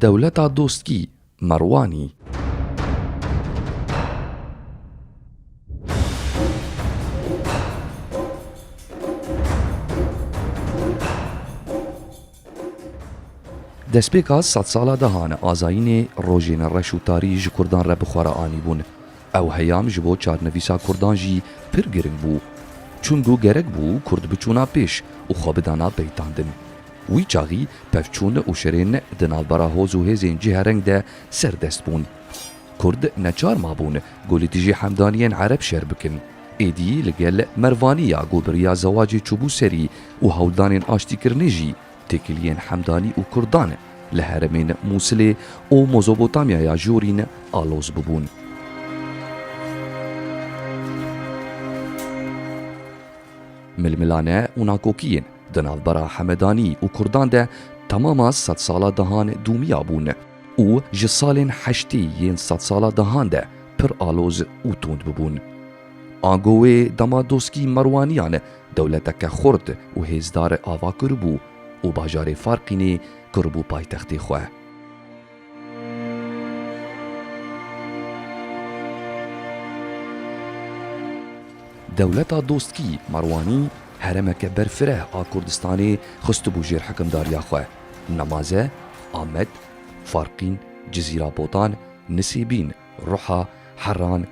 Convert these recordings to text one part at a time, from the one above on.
Dewleta Dostkî, Merwanî. Destpêka sed sala dehan azayînê rojên reş û tarî ji kurdan re bi xwe re anîbûn. Ew heyam ji bo çarnivîsa kurdan jî pir giring bû. Çungo gerek bû kurd biçûna pêş û xwe bidana peytandin. Wî çaxî pevçûn û şirên di navbera hoz û hêzên cîhereng de serdest bûn. Kurd neçar mabûn ku li dijî hemdaniyên ereb şer bikin. Êdî li gel Mervanî ya ku bi riya zewacê çûbû serî û hewldanên aştîkirinê jî têkiliyên Hemdanî û Kurdan li heremên Mûsilê û Mozobotamyaya Jorîn aloz bûbûn. Milmilane û nakokiyên di navbera Hemedanî û Kurdan de temama sedsala dahan dûmiya bûn. û ji salên heştî yên sedsala dahan de pir aloz û tund bûbûn. Ango wê dema doskî Merwaniyan dewleteke xurt û hêzdar ava kiribû û bajarê Farqînê kiribû paytextê xwe. Dewleta doskî Merwanî heremeke berfireh a Kurdistanê xistibû jêr hikimdariya xwe. Nemaze, Amed, Farqîn, Cizîrabotan, Nisîbîn, Ruha, Heran,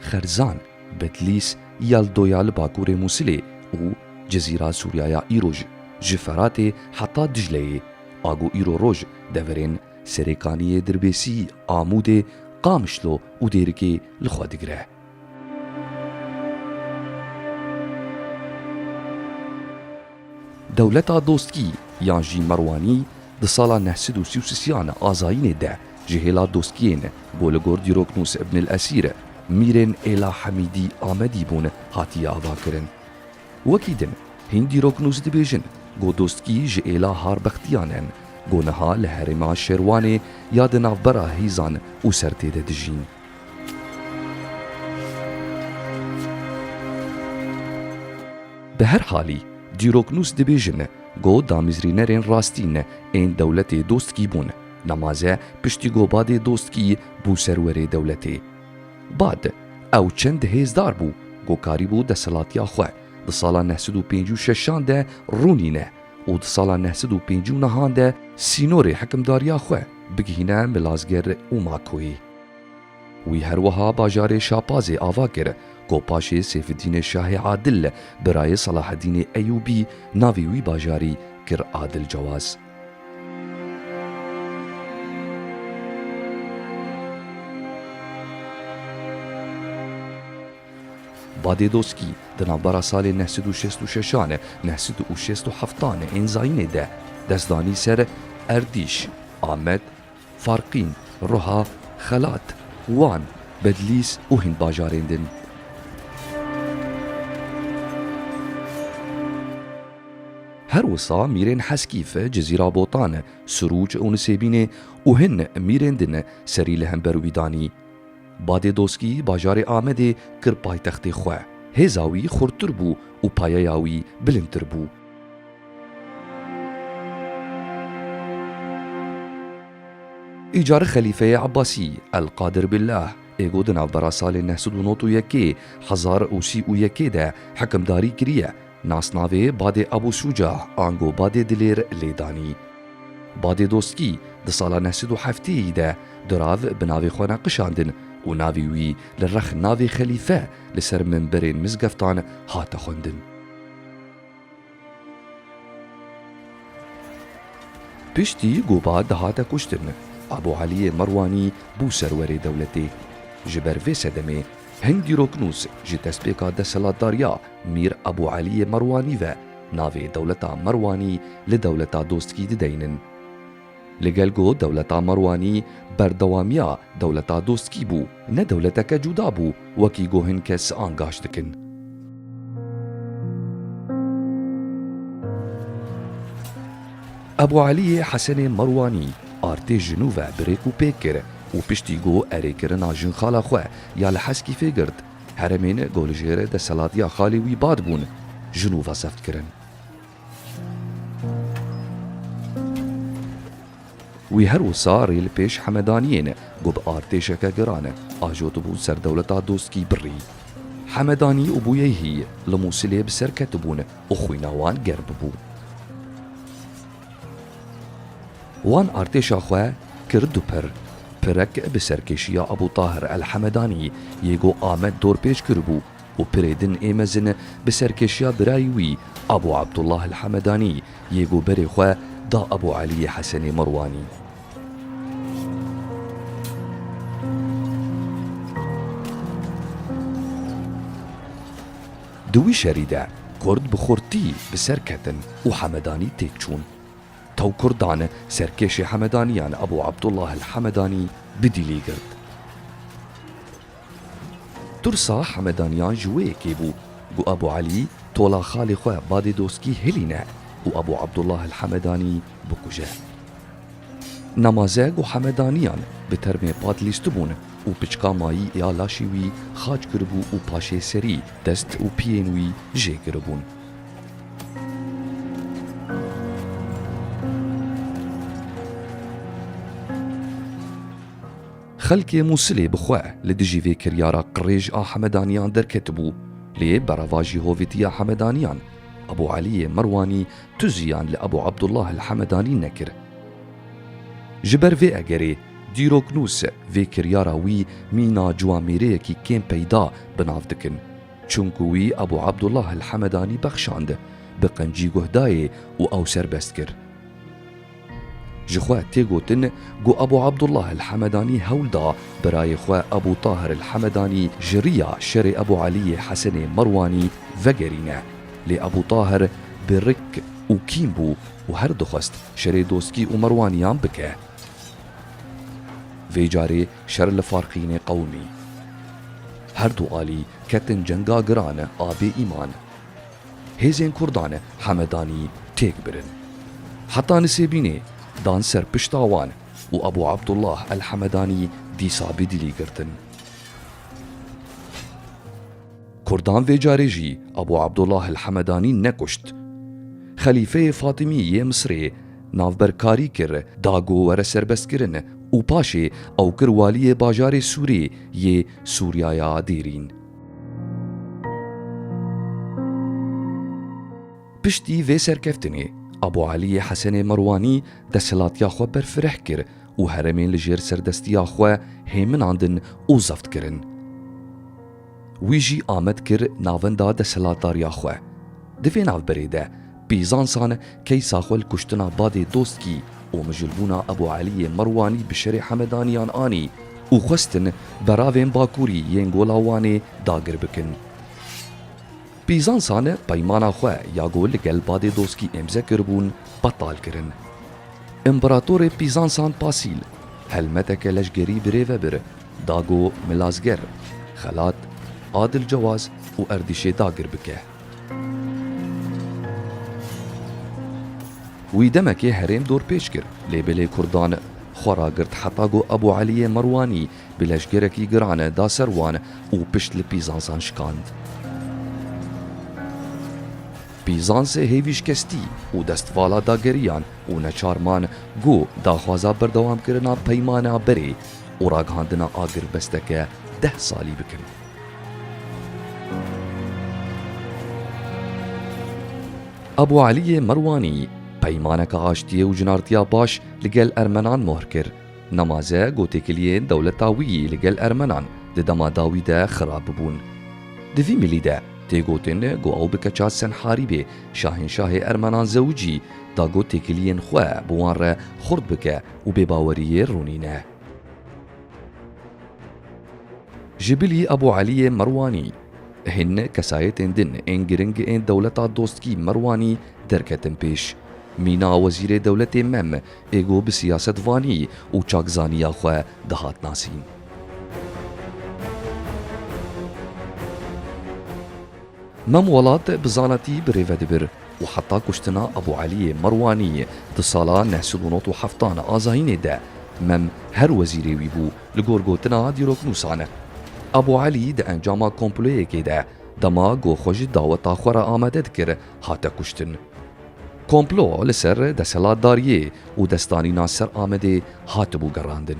Xerzan, Bedlîs, Yaldoya li bakurê Mûsilê û Cizîra Sûryaya îro ji ji Feratê heta Dicleyê ago îro roj deverên Serêkaniyê, Dirbêsî, Amûdê, Qamişlo û Dêrikê li xwe digire. Dewleta Dostkî yan jî Merwanî di sala neh sed û sî û sisiyan azayînê de ji hêla dostkiyên ku li gor dîroknûs Ibn El Esîr, Mîrên Êla Hemîdî Amedî bûn hatiye avakirin. Wekî din hîn dîroknûs dibêjin ku dostkî ji êla harbextiyan in ku niha li herêma Şêrwanê ya di navbera hêzan û sertê de dijîn. Bi her halî, dîroknûs dibêjin ku damîzrînerên rastî ne ên dewletê dostkî bûn. Namaze piştî ku Badê Dostkî bû serwerê dewletê. Bad, ew çend hêzdar bû ku karîbû desthilatiya xwe di sala neh sed û pêncî û şeşan de rûnîne û di sala neh sed û pêncî û nehan de sînorê hikimdariya xwe bigihîne Milazger û Makoyê. Wî her wiha bajarê Şapazê ava kir ku paşê Sêfidînê Şahê Adil birayê Selahedînê Eyûbî navê wî bajarî kir Adil Cewaz. Badê Doskî di navbera salên neh sed û şêst û şeşan, neh sed û şêst û heftan ên zayînê de dest danî ser Erdîş, Amed, Farqîn, Ruha, Xelat, Wan, Bedlîs û hin bajarên din. Her wisa mîrên Heskîf, Cizîra Botan, Sirûc û Nisêbînê û hin mîrên din serî li hember wî danî. Badê Doskî bajarê Amedê kir paytextê xwe. Hêza wî xurttir bû û payeya wî bilindtir bû. Îcarê xelîfeyê Ebasî, El-Qadir Billah, ê ku di navbera salên neh sed û nod û yekê, hezar û sî û yekê de hikimdarî kiriye, nasnavê Badê Ebû Şûcah ango Badê Dilêr lê danî. Badê Dostkî di sala neh sed û heftê yî de durav bi navê xwe ne qişandin û navê wî li rex navê xelîfe li ser mimberên mizgeftan hate xwendin. Piştî Goba dihate kuştin, Abu Aliyê Merwanî bû serwerê dewletê. Ji ber vê sedemê hin dîroknûs ji destpêka desthilatdariya Mîr Abu Aliyê Merwanî ve navê dewleta Merwanî li dewleta dostkî dideynin. Li gel ku dewleta Merwanî berdewamiya dewleta Doskî bû, ne dewleteke cuda bû wekî ku hin kes angaje dikin. Ebû Elîyê Hesenê Merwanî artê ji nû ve bi rêk û pêk kir û piştî ku erê kirina jinxala xwe ya li Heskîfê girt, heremên ku li jêr desthilatiya xalê wî bad bûn, ji nû ve zeft kirin. Wî her wisa rê li pêş Hemedaniyê ne ku bi artêşeke giran e ajo dibû ser dewleta dostkî birî. Hemedanî û Bûyeyhî li Mûsilê bi ser ketibûn û xwîna wan germ bû. Wan artêşa xwe kir du pir. Pirek bi serkêşiya Ebû Tahir El Hemedanî yê ku Amed dorpêç kiribû, û pirê din ê mezin bi serkêşiya birayî wî Abû Abdullah El-Hemedanî yê ku berê xwe da Ebû Elîyê Hesenê Merwanî. Di wî şerî de Kurd bi xurtî bi ser ketin û Hemedanî têk çûn. Taw Kurdan serkêşê Hemedaniyan Ebû Abdullah El-Hemedanî bi dîlî girt. Tirsa Hemedaniyan ji wê yekê bû ku Abu Elî tola xalê xwe Badê Doskî hilîne û Abu Abdullah El Hemedanî bikuje. Namazeg û Hemedaniyan bi termê pat lîstibûn û piçka mayî ya laşê wî xaç kiribû û paşê serî, dest û piyên wî jê giribûn. Xelkê Mûsilê bi xwe li dijî vê kiryara qirêj a Hemedaniyan derketibû, lê beravajî hovîtiya Hemedaniyan, Ebû Eliyê Merwanî tu ziyan li Ebû Ebdullah el Hemedanî nekir. Ji ber vê egerê, dîroknûs vê kiryara wî mîna ciwamêreyekî kêm peyda bi nav dikin, çimkû wî Ebû Ebdullah el Hemedanî bexşand, bi qencî guh dayê û ew serbest kir. Ji xwe tê gotin ku Abu Abdullah el-Hemedanî hewl da birayê xwe Abu Tahir el-Hemedanî ji riya şerê Abu Eliyê Hesenê Merwanî vegerîne. Lê Abu Tahir birik û kîn bû û her dixwest şerê Doskî û Merwaniyan bike. Vê carê şer li Farqînê qewimî. Her du alî ketin cenga giran a bêîman. Hêzên Kurdan Hemedanî têk birin. Heta Nisêbînê dan ser pişta wan û Ebû Abdullah El Hemedanî dîsa bi dîlî girtin. Kurdan vê carê jî Ebû Abdullah El Hemedanî nekuşt. Xelîfeyê Fatîmî yê Misirê navberkarî kir da ku were serbestkirin û paşê ew kir waliyê bajarê Sûrê yê Sûriyaya Dêrîn. Piştî vê serkeftinê Abu Elîyê Hesenê Merwanî desthilatiya xwe berfireh kir û heremên li jêr serdestiya xwe hêminandin û zebt kirin. Wî jî amed kir navenda desthilatdariya xwe. Di vê navberê de Bîzansan keysa xwe li kuştina Badê Dostkî û mijûlbûna Ebû Eliyê Merwanî bi şerê Hemedaniyan anî û xwestin beravên Bakurî yên Gola Wanê dagir bikin. Bîzansan peymana xwe ya ku li gel Badê Dostkî îmze kiribûn betal kirin. Împeratorê Bîzansan Pasîl helmeteke leşgerî bi rê ve bir da ku Milazger, Xelat, Adil Cewaz û Erdîşê dagir bike. Wî demekê herêm dorpêç kir, lê bilê kurdan xwe ragirt heta ku Ebû Eliyê Merwanî bi leşgerekî giran da ser wan û pişt li Pîzansan şikand. Pîzansê hêvî şikestî û destvala da geriyan û neçar man ku daxwaza berdewamkirina peymana berê û ragihandina agirbesteke deh salî bikin. Abu Eliyê Merwanî peymaneke aştiyê û cinartiya baş li gel ermenan mohr kir. Nemaze ku têkiliyên dewleta wî li gel ermenan di dema dawî de xirab bûbûn. Di vî mîlî de tê gotin ku ew bi keça Senharîbê şahînşahê ermenan Zewicî da ku têkiliyên xwe bi wan re xurt bike û bêbaweriyê rûnîne. Jibilî Ebû Elîyê Merwanî, hin kesayetên din ên giring ên dewleta dostkî Merwanî derketin pêş. Mîna wezîrê dewletê Mem ê ku bi siyasetvanî û çakzanîya xwe dihat nasîn. Mem Welat bi zanatî bi rê ve dibir û heta kuştina Ebû Eliyê Merwanî di sala neh sed û nod û heftan a zayînê de Mem her wezîrê wî bû li gor gotina dîroknûsan. Ebû Elî di encama komployekê de dema ku xwe ji daweta xwe re amade dikir hate kuştin. Komplo li ser desthilatdariyê û destanîna ser Amedê hatibû gerandin.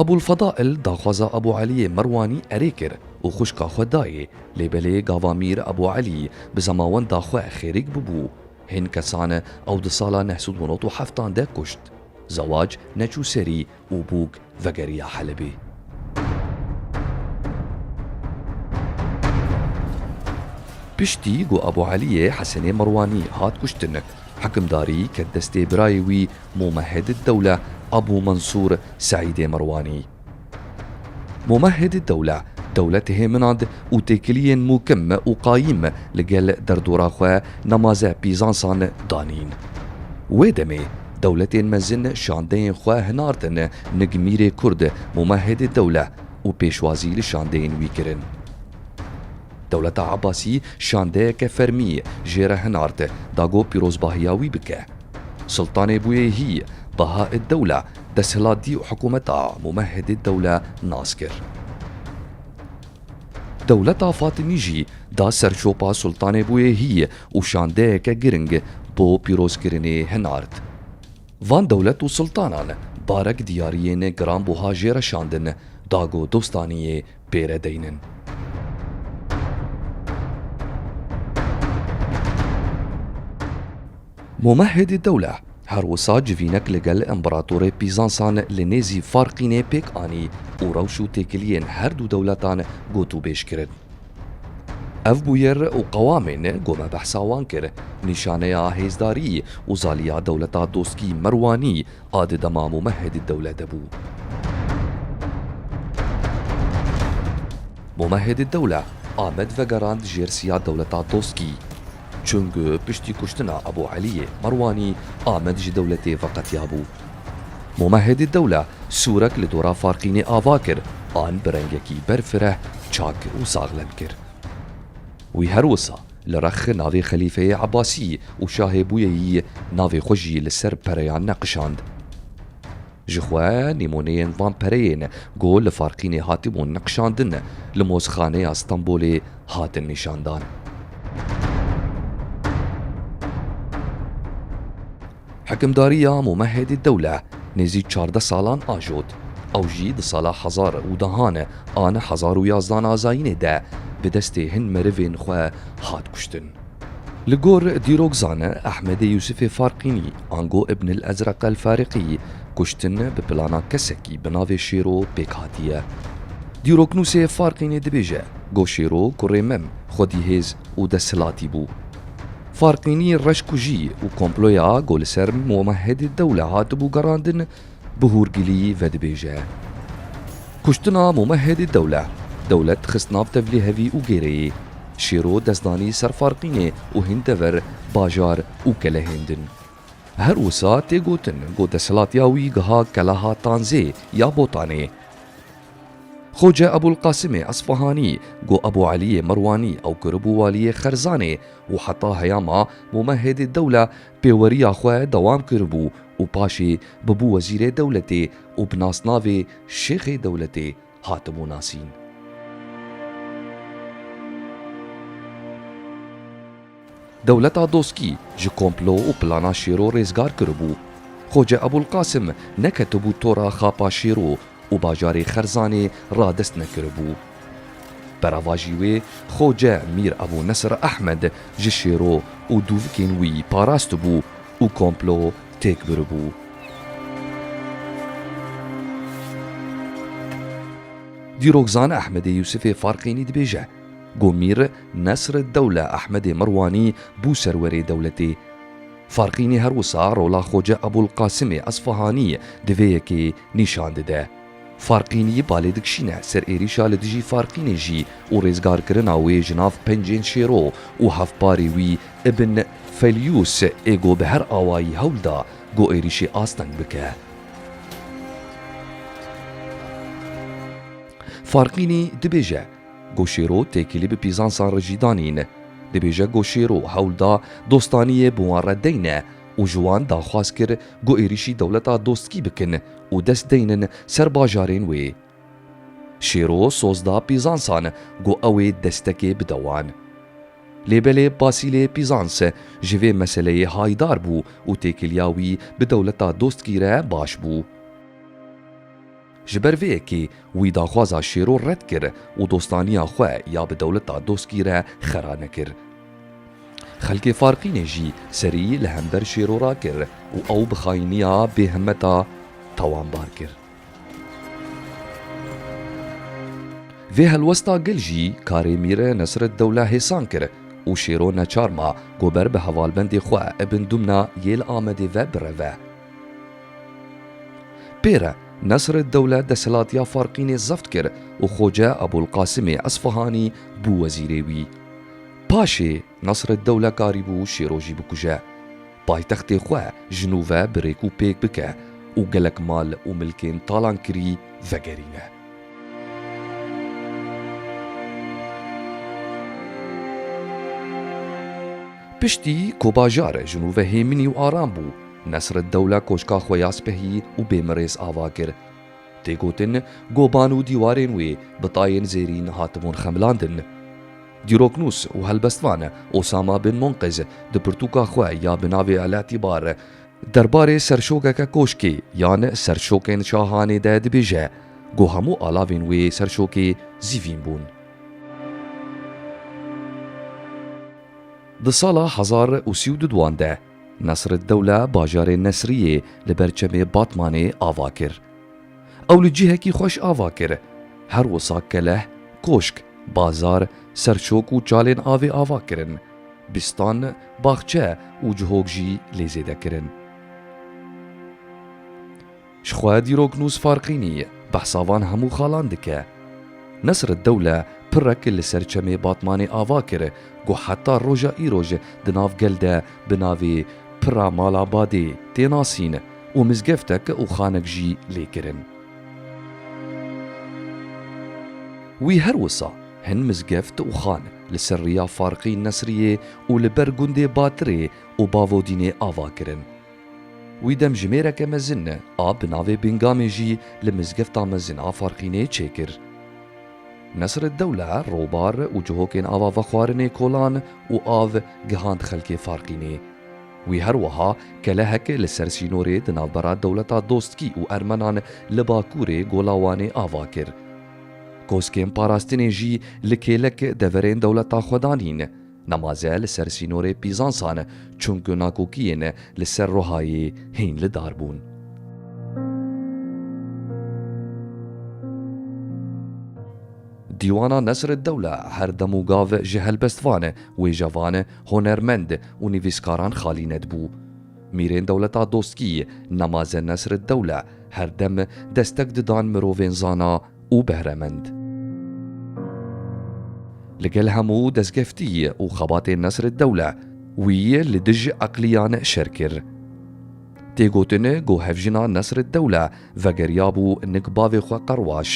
Abûlfedaîl daxwaza Abû Elîyê Merwanî erê kir û xwişka xwe dayê, lê belê gava Mîr Abû Elî bi zemawenda xwe xêrîk bûbû. Hîn kesan ew di sala neh sed û nod û heftan de kuşt. Zewac neçû serî û bûk vegeriya Helebê. Piştî ku Abu Eliyê Hesenê Merwanî hat kuştin, hikimdarî ket destê birayê wî Mûmehedîddewle Abu Mensûr Seîdê Merwanî. Mûmehedîddewle dewletê hê minand û têkiliyên mûkim û qayîm li gel derdora xwe nemaze pîzansan danîn. Wê demê Dewletên mezin şandeyên xwe hinardin nig Mîrê Kurd Mumehedê Dewle û pêşwazî li şandeyên wî kirin. Dewleta Ebasî şandeyeke fermî jê re hinard da ku pîrozbahiya wî bike. Sultanê Bûyêhî, Bahaeddewle, desthilatdî û hikûmeta Mumehedê Dewle nas kir. Dewleta Fatimî jî da ser şopa Sultanê Bûyêhî û şandeyeke giring bo pîrozkirinê hinard. Van dewlet û sultanan barek diyariyên giranbuha jê re şandin da ku dostaniyê pê re deynin. Mumehhid Dewle her wisa civînek li gel Împeratorê Pîzansan li nêzî Farqînê pêk anî û rewş û têkiliyên her du dewletan gotûbêj kirin. Ev bûyer û qewamên ku me behsa wan kir, nîşaneya hêzdarî û zaliya dewleta dostkî Merwanî, A di dema Mûmehedî dewle de bû. Mûmehedî dewle Amed vegerand jêr siya dewleta Doskî. Çung piştî kuştina Ebû Elîyê Merwanî Amed ji dewletê veqetiya bû. Mûmehedî dewle sûrek li dora Farqînê ava kir an bi rengekî berfireh çak û saxlem kir. Wî her wisa Li rex navê Xelîfeyê Ebasî û şahê bûyeyî navê xwe jî li ser pereyan neqişand. Ji xwe nîmoneyên van pereyên ku li Farqînê hatibûn neqişandin li Mozxaneya Stenbolê hatin nîşandan. Hikimdariya Mumehed Dewle nêzî çardeh salan ajot. Ew jî di sala hezar û dehan an hezar û yazdan a zayînê de bi destê hin merivên xwe hat kuştin. Li gor dîrokzan Ehmedê Yûsifê Farqînî ango Ibnil Ezreq El Fariqî kuştin bi plana kesekî bi navê Şêro pêk hatiye. Dîroknûsê Farqînî dibêje, Go Şêro kurê mem, xwedîhêz û desthilatî bû. Farqînî reşkujî û komploya ku li ser Muhedî Dewle hatibû gerandin bi hûrgilî vedibêje. Kuştina Muhedî Dewle, dewlet xist nav tevlî hevî û gêreyê. Şêro dest danî ser Farqînê û hîn dever, bajar û kelehêndin. Her wisa tê gotin ku desthilatiya wî giha keleha Tanzê ya Botanê. Xoce Ebûlqasimê Esfahanî ku Ebû Elîyê Merwanî ew kiribû walîyê Xerzanê û heta heyama Mûmehedê Dewle pêweriya xwe dewam kiribû û paşê bûbû wezîrê dewletê û bi nasnavê Şêxê Dewletê hatibû nasîn. Dewleta Doskî ji komplo û plana Şêro rêzgar kiribû. Xoce Ebûlqasim neketibû tora xapa Şêro û bajarê Xerzanê radest nekiribû. Beravajî wê Xoce Mîr Ebû Nesir Ehmed ji Şêro û dûvikên wî parastibû û komplo têk biribû. Dîrokzan Ehmedê Yûsifê Farqînî dibêje ku Mîr. Nesreddewle Ehmedê Mirwanî bû serwerê dewletê. Farqînî her wisa rola Xoce Ebûlqasimê Esfahanî di vê yekê nîşan dide. Farqînî balê dikişîne ser êrîşa li dijî Farqînê jî û rêzgarkirina wê ji nav pencên şêro û hevparê wî Ibn Felyûs ê ku bi her awayî hewl da ku êrîşê asteng bike. Farqînî dibêje. Goşêro têkilî bi pîzansan re jî danîn. Dibêje Goşêro hewl da dostaniyê bi wan re deyne û ji wan daxwaz kir ku êrîşî dewleta dostkî bikin û dest deynin ser bajarên wê. Şêro soz da pîzansan ku ew ê destekê bide wan. Lê belê Basîlê Pîzans ji vê meseleyê hayîdar bû û têkiliya wî bi dewleta dostkî re baş bû. Ji ber vê yekê wî daxwaza Şêro red kir û dostaniya xwe ya bi dewleta Doskî re xera nekir. Xelkê Farqînê jî serî li hember Şêro rakir û ew bi xayîniya bêhimmeta tawanbar kir. Vê helwesta gil jî karê Mîr Nesreddewle hêsan kir û Şêro neçar ma ku ber bi hevalbendê xwe Ibn Dumna yê li Amedê ve bireve. Pêre, Nesreddewle desthilatiya Farqînê zebt kir û Xoce Ebûlqasimê Esfahanî bû wezîrê wî. Paşê, Nesreddewle karî bû Şêrojî bikuje, paytextê xwe ji nû ve bi rêk û pêk bike û gelek mal û milkên talankirî vegerîne. Piştî ku bajar ji nû ve hêminî û aram bû, Nesreddewle koşka xwe ya spehî û bêmirêz ava kir. Tê gotin goban û dîwarên wê bi tayên zêrîn hatibûn xemilandin. Dîroknûs û helbestvan Osama bin Munqiz di pirtûka xwe ya bi navê El'Itibar derbarê serşokeke koşkê yan serşokên şahanê de dibêje ku hemû alavên wê serşokê zîvîn bûn. Di sala hezar û sî û du duan de. Nesreddewle bajarê Nesriyê li ber çemê Batmanê ava kir. Ew li cihekî xweş ava kir. Her wisa keleh, koşk, bazar, serçok û çalên avê ava kirin. Bîstan, baxçe û cihok jî lê zêde kirin. Ji xwe dîroknûs Farqînî behsa van hemû xalan dike. Nesreddewle pirek li ser çemê Batmanê ava kir ku heta roja îroj di nav gel de bi navê Pira Mala Badê tê nasîn û mizgeftek û xanek jî lê kirin. Wî her wisa hin mizgeft û xan li ser riya Farqîn Nesriyê û li ber gundê Batirê û Bavodînê ava kirin. Wî dem jimêreke mezin a bi navê Bingamê jî li mizgefta mezin a Farqînê çêkir. Nesreddewle robar û cihokên ava vexwarinê kolan û av gihand xelkê Farqînê. Wî her wiha kelehek li ser sînorê di navbera dewleta dostkî û ermenan li bakurê Gola Wanê ava kir. Koskên parastinê jî li kêlek deverên dewleta xwe danîn. Namaze li ser sînorê Pîzansan e, çunku nakokiyên li ser Rohayê hîn li dar bûn. Dîwana Nesreddewle her dem û gav ji helbestvan, wêjevan, hunermend û nivîskaran xalî nedibû. Mîrên dewleta dostkî Namaze Nesreddewle her dem destek didan mirovên zana, û behremend. Li gel hemû destgeftî û xebatên Nesreddewle, wî li dij eqliyan şer kir. Tê gotin ku hevjina Nesreddewle vegeriyabû nik bavê xwe Qerwaş,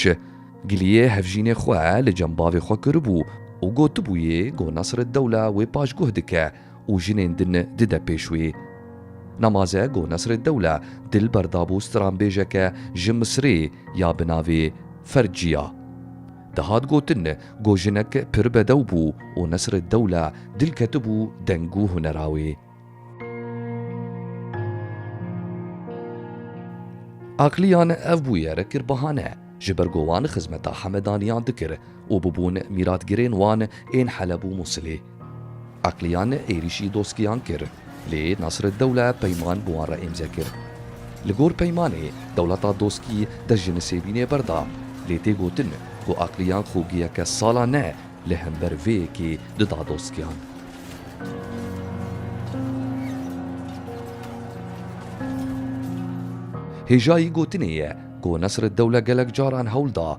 giliyê hevjînê xwe li cem bavê xwe kiribû û gotibûyê ku Nesreddewle wê paşguh dike, û jinên din dide pêş wê. Namaze ku Nesreddewle Dilber dabû stranbêjeke ji Misirê ya bi navê Ferciya. Dihat gotin ku jinek pir bedew bû û Nesreddewle dil ketibû deng û hunera wê. Aqliyan ev bûyer kir bahane, ji ber ku wan xizmeta Hemedaniyan dikir û bûbûn mîratgirên wan ên Heleb û Mûsilê. Aqliyan êrîşî Doskiyan kir, lê Nasreddewle peyman bi wan re îmze kir. Li gor peymanê, dewleta Doskî dest ji Nisêbînê berda, lê tê gotin ku Aqliyan xogiyeke sala ne li hember vê yekê dida Doskiyan. Hêjayî gotinê ye ku Nasreddewle gelek caran hewl da,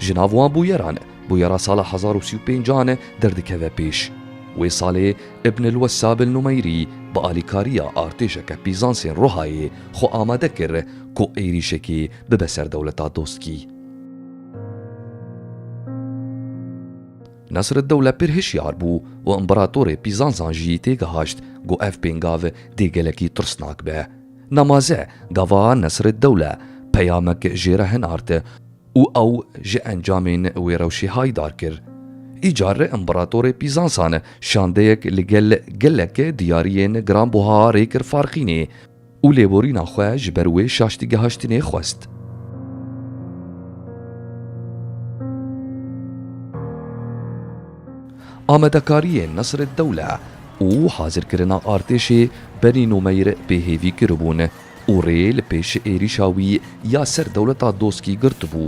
Ji nav wan bûyeran bûyera sala hezar û sî û pêncan derdikeve pêş. Wê salê Ibn el-Wessab el-Numeyrî bi alîkariya artêşeke Pîzansên Rohayê xwe amade kir ku êrîşekê bibe ser dewleta Doskî. Nesreddewle pir hişyar bû û împeratorê Pîzansan jî têgihişt ku ev pêngav dê gelekî tirsnak be. Namaze gava Nesreddewle peyamek jê re hinart û ew ji encamên wê rewşê hayîdar kir. Îcar Împeratorê Pîzansan şandeyek li gel gelek diyariyên giranbuha rê kir Farxînê û lêborîna xwe ji ber wê şaştîgehaştinê xwest. Amadekariyên Nesreddewle û hazirkirina artêşê Benî Nûmeyr pê hêvî kiribûn û rê li pêş êrîşa wî ya ser dewleta Doskî girtibû.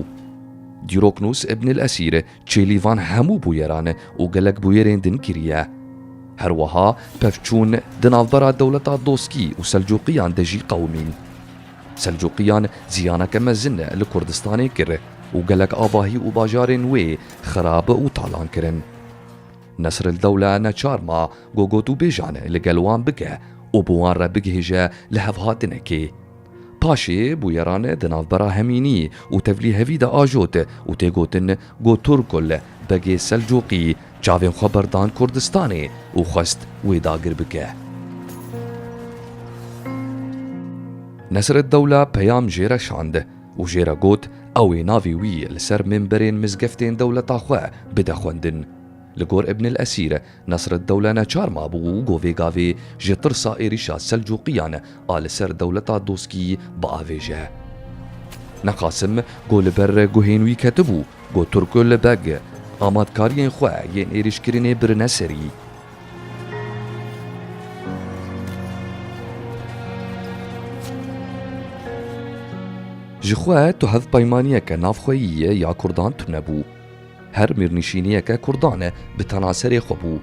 Dîroknûs Ibnil Esîr çêlî van hemû bûyeran û gelek bûyerên din kiriye. Her wiha pevçûn di navbera dewleta Doskî û Selcuqiyan de jî qewimîn. Selcuqiyan ziyaneke mezin li Kurdistanê kir û gelek avahî û bajarên wê xirab û talan kirin. Nesrildewle neçar ma ku gotûbêjan li gel wan bike û bi wan re bigihêje li hevhatinekê. Paşê bûyeran di navbera hemînî û tevlîhevî de ajot û tê gotin, Got Turkul, Begê Selcuqî çavên xwe berdan Kurdistanê û xwest wê dagir bike. Nesreddewla peyam jê re şand û jê re got ew ê navê wî li ser mimberên mizgeftên dewleta xwe bide xwendin. Li gor Ibn el-Esîr, Nesreddewle neçar mabû û govê gavê ji tirsa êrîşa Selcuqiyan a li ser dewleta Doskî biavêje. Ne Qasim ku li ber guhên wî ketibû ku Turkul Beg amadkariyên xwe yên êrîşkirinê birine serî. Ji xwe tu hevpeymaniyeke navxweyî ya Kurdan tunebû. Her mêrnişîniyeke kurdan e bi tena serê xwe bû.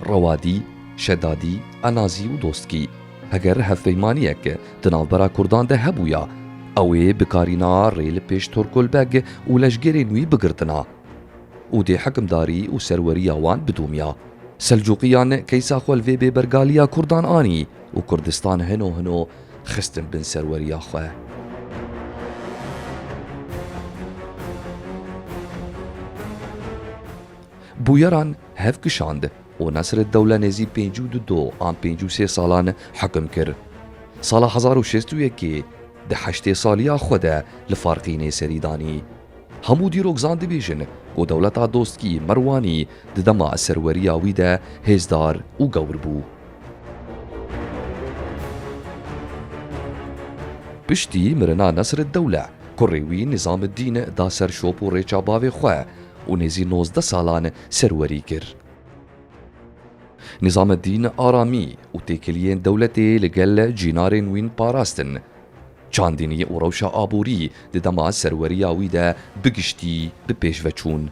Rewadî, Şedadî, Enazî û Dostkî. Heger hevpeymaniyek di navbera kurdan de hebûya, ew ê bikarîna rê li pêş Torkolbeg û leşgerên wî bigirtina û dê hikimdarî û serweriya wan bidomya. Selcuqiyan keysa xwe li vê bêbergaliya kurdan anî û Kurdistan hino hino xistin bin serweriya xwe. Bûyeran hev kişand û Nesreddewle nêzî pêncî û du do an pêncî û sê salan hikim kir. Sala hezar û şêst û yekê di heştê saliya xwe de li Farqînê serî danî. Hemû dîrok zan dibêjin ku dewleta dostkî Merwanî di dema serweriya wî de hêzdar û gewr bû. Piştî mirina Nesreddewle, kurê wî Nîzameddîn da ser şop û rêça bavê xwe û nêzî nozdeh salan serwerî kir. Nîzameddîn aramî û têkiliyên dewletê li gel cînarên wîn parastin. Çandinî û rewşa aborî di dema serweriya wî de bi giştî bi pêş ve çûn.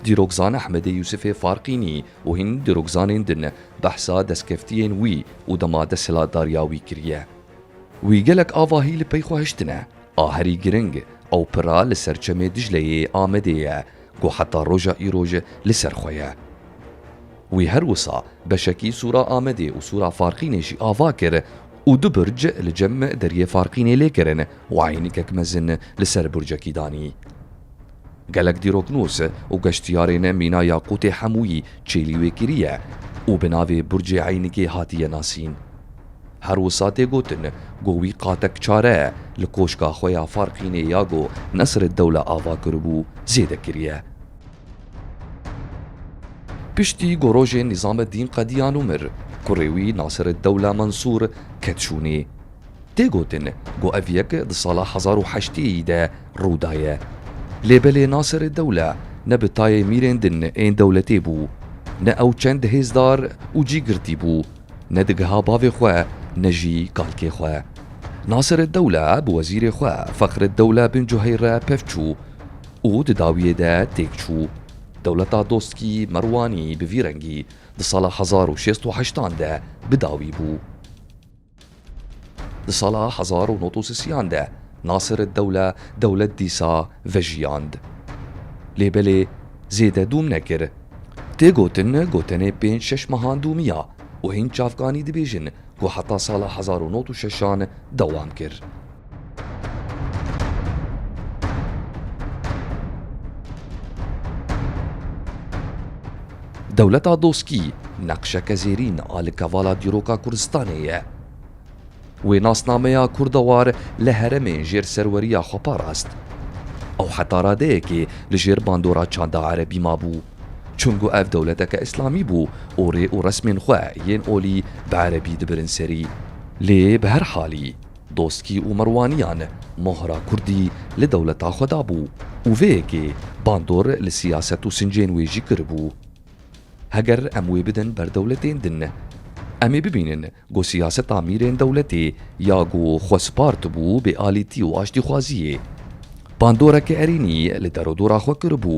Dîrokzan Ehmedê Yûsifê Farqînî û hîn dîrokzanên din behsa destkeftiyên wî û dema desthilatdariya wî kiriye. Wî gelek avahî li pey xwe hiştine. A herî giring ew pira li ser çemê Dicleyê Amedê ye ku heta roja îro ji li ser xwe ye. Wî her wisa beşekî sûra Amedê û sûra Farqînê jî ava kir, û du burc li cem deriyê Farqînê lê kirin û eynîkek mezin li ser burcekî danî. Gelek dîroknûs û geştiyarên Mîna Yaqûtê hemûyî çêlî wê kiriye û bi navê Burcê Eynîkê hatiye nasîn. Her wisa tê gotin ku wî qatek çare li koşka xwe ya Farqînê ya ku Nesreddewle ava kiribû zêde kiriye. Piştî ku rojên Nîzameddîn qediyan û mir, kurê wî Nasireddewla Mensûr ket şûnê. Tê gotin ku ev yek di sala hezar û heştê yî de rû daye. Lê belê Nasireddewla ne bi tayê mîrên din ên dewletê bû, ne ew çend hêzdar û cîgirtî bû, ne digiha bavê xwe ne jî kalkê xwe. Nasireddewla bi wezîrê xwe Fexreddewla bin Cuheyre pevçû. û di dawiyê de têk çû. Dewleta Dostkî Merwanî bi vî rengî di sala hezar û şêst û heştan de bi dawî bû. Di sala hezar û nod û sisiyan de Nasir'id-Dewle dewlet dîsa vejiyand. Lê belê zêde dûm nekir. Tê gotin ku tenê pênc şeş mehan dûmiya û hîn çavkanî dibêjin ku heta sala hezar û nod û şeşan dewam kir. Dewleta doskî neqşeke zêrîn a li kevala dîroka Kurdistanê ye. Wê nasnameya kurdewar li heremên jêr serweriya xwe parast. Ew heta radeyekê li jêr bandora çanda erebî mabû. Çunku ev dewleteke îslamî bû û rê û resmên xwe yên olî bi erebî dibirin serî. Lê bi her halî Doskî û Merwaniyan mohra kurdî li dewleta xwe dabû û vê yekê bandor li siyaset û sincên wê jî kiribû. Heger em wê bidin ber dewletên din, em ê bibînin ku siyaseta mîrên dewletê ya ku xwe spartibû bêalîtî û aştîxwaziyê. Bandoreke erênî li derodora xwe kiribû.